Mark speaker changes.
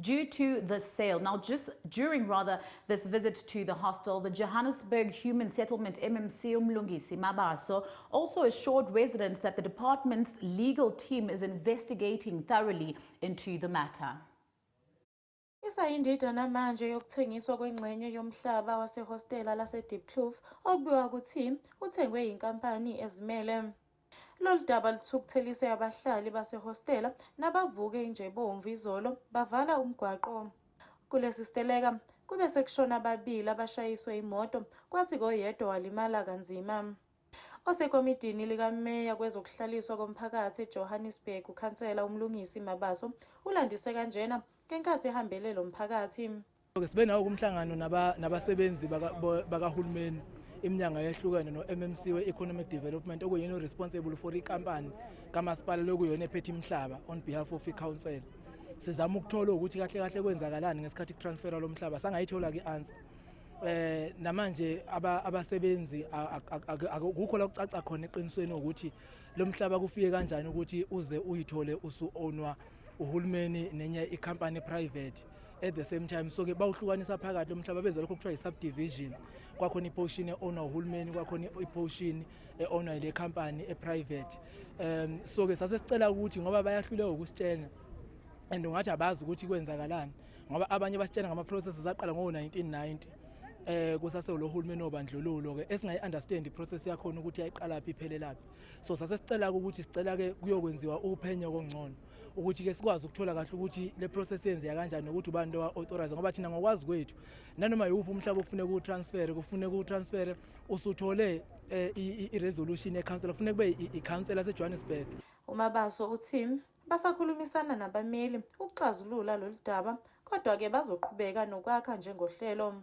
Speaker 1: due to the sale. Now, just during rather this visit to the hostel, the Johannesburg Human Settlement MMC Umlungisi Mabaso also assured residents that the department's legal team is investigating thoroughly into the matter. Isayindidana
Speaker 2: manje yokuthengiswa kwengxenye yomhlaba wasehostela lase-Diepkloof okubikwa ukuthi uthengwe yinkampani ezimele. Lolu daba luthukuthelise abahlali basehostela nabavuke injebomvu izolo bavala umgwaqo. Kulesi siteleka kube sekushona ababili abashayiswe imoto kwathi koyedwa walimala kanzima. Osekomidini likameya kwezokuhlaliswa komphakathi eJohannesburg ukhansela uMlungisi Mabaso ulandise kanjena ngenkathi ehambele lo mphakathi. Sibe nawo
Speaker 3: kumhlangano nabasebenzi bakahulumeni iminyanga yehlukene no-mmc we-economic development okuyena o-responsible for ikampani kamasipala lokuyona ephethe imihlaba on behalf of i-council sizama ukuthola ukuthi kahle kahle kwenzakalani ngesikhathi kutransfera lo mhlaba sangayithola-ke i-answer eh namanje abasebenzi akukho la kucaca khona eqinisweni ukuthi lo mhlaba kufike kanjani ukuthi uze uyithole usu-ownwa uhulumeni nenye i-company private at the same time so ke bawuhlukanisa phakathi lomhlaba benza lokho kuthiwa i-subdivision kwakhona i-portion e-owner uhulumeni kwakhona i-portion e-owner ile company e-private um so ke sase sicela ukuthi ngoba bayahluleka ukusitshena and ungathi abazi ukuthi kwenzakalani ngoba abanye basitshena ngama-processes aqala ngo-1990 eh kusase lo hulumeni obandlululo ke esingayi understand iprocess yakhona ukuthi yayiqala phi iphelelaphi so sase sicela ukuthi sicela ke kuyokwenziwa uphenyo kongcono ukuthi ke sikwazi ukuthola kahle ukuthi le process yenzeka kanjani nokuthi ubani lo authorize ngoba thina ngokwazi kwethu nanoma yiwuphi umhlaba kufuneka ku transfer kufuneka ku transfer usuthole eh, i resolution e council kufuneka kube i council yase Johannesburg uma baso
Speaker 2: uthi basakhulumisana nabameli ukuxazulula lolu daba kodwa ke bazoqhubeka nokwakha njengohlelo